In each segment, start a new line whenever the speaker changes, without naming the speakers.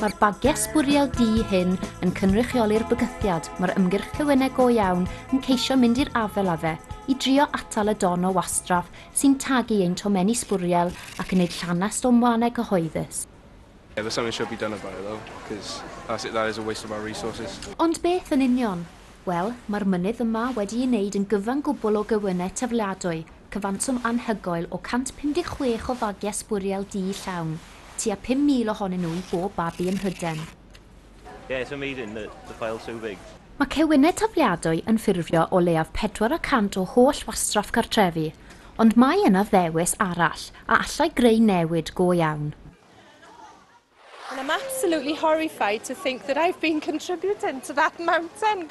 Mae'r bagiau sbwriel du hyn yn cynrychioli'r bygythiad mae'r ymgyrch Cywenau Go Iawn yn ceisio mynd i'r afael â fe, i drio atal y don o wastraff sy'n tagu ein tomenni sbwriel ac yn neud llanast o'n wlannau cyhoeddus. Yeah, but something should be done about it though, cos that's it, that is a waste of our resources. Ond beth yn union? Wel, mae'r mynydd yma wedi ei wneud yn gyfan gwbl o gewynnau tafliadwy, cyfanswm anhygoel o 156 o fagiau sbwriel du llawn, Tua 5,000 ohonyn nhw i bob babi ym Mhryden. Yeah, it's amazing that the file's so big. Mae cewynnau tafliadwy yn ffurfio o leiaf pedwar y cant o holl wastraff cartrefi, ond mae yna ddewis arall a allai greu newid go iawn. And I'm absolutely horrified to think that I've been contributing to that mountain!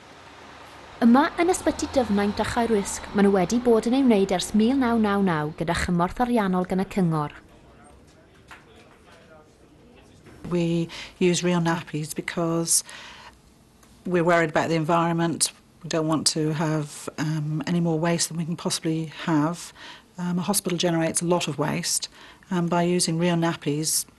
Yma yn Ysbyty Dyfnaint a Chaerwysg maen nhw wedi bod yn ei wneud ers 1999 gyda chymorth ariannol gan y Cyngor. We use real nappies because we're worried about the environment, we don't want to have um, any more waste than we can possibly have. Um, a hospital generates a lot of waste, and by using real nappies,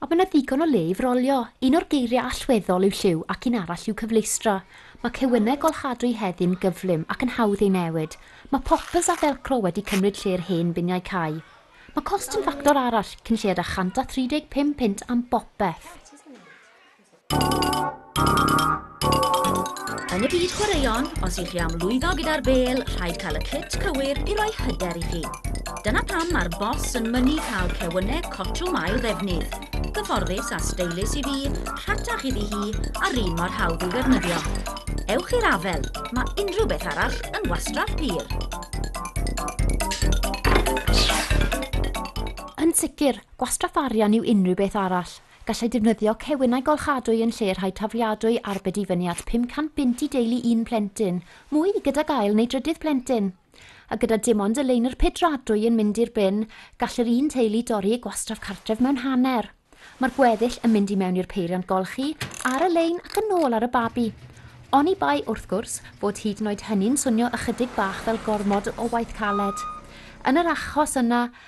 Ond mae yna ddigon o le i frolio. Un o'r geiriau allweddol yw lliw ac un arall yw cyfleustra. Mae cewynnau golchadwy heddiw'n gyflym ac yn hawdd eu newid. Mae poppers a felcro wedi cymryd lle'r hen biniau cau. Mae cost yn ffactor arall, cyn lleied â 135 punt am bopeth. Yn y byd chwaraeon, os ych chi am lwyddo gyda'r bêl, rhaid cael y cyt cywir i roi hyder i chi. Dyna pam mae'r bos yn mynnu cael cewynneg cotwm ail ddefnydd. Gyfforddus a steilus i fi, rhatach iddi hi, a'r un mor hawdd i'w ddefnyddio. Ewch i'r afel, mae unrhyw beth arall yn wastraff pur. Yn sicr, gwastraff arian yw unrhyw beth arall. Gallai defnyddio cewinau golchadwy yn lle rhai tafliadwy arbed i fyny at 500 bunt i deulu un plentyn, mwy gyda gael neu drydydd plentyn. A gyda dim ond y leunr pedradwy yn mynd i'r bin, gall yr un teulu dorri eu gwastraff cartref mewn hanner. Mae'r gweddill yn mynd i mewn i'r peiriant golchi, ar y lein ac yn ôl ar y babi. Oni bai, wrth gwrs, bod hyd yn oed hynny'n swnio ychydig bach fel gormod o waith caled. Yn yr achos yna,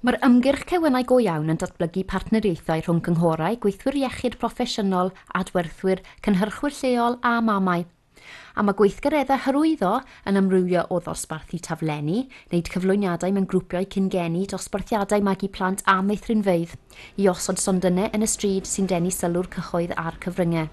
Mae'r ymgyrch Cewenau Go Iawn yn datblygu partneriaethau rhwng cynghorau, gweithwyr iechyd proffesiynol, adwerthwyr, cynhyrchwyr lleol a mamau. A mae gweithgareddau hyrwyddo yn amrywio o ddosbarthu taflenni, wneud cyflwyniadau mewn grwpiau cyn-geni, dosbarthiadau magu plant a meithrinfeydd, i osod sondynnau yn y stryd sy'n denu sylw'r cyhoedd a'r cyfryngau.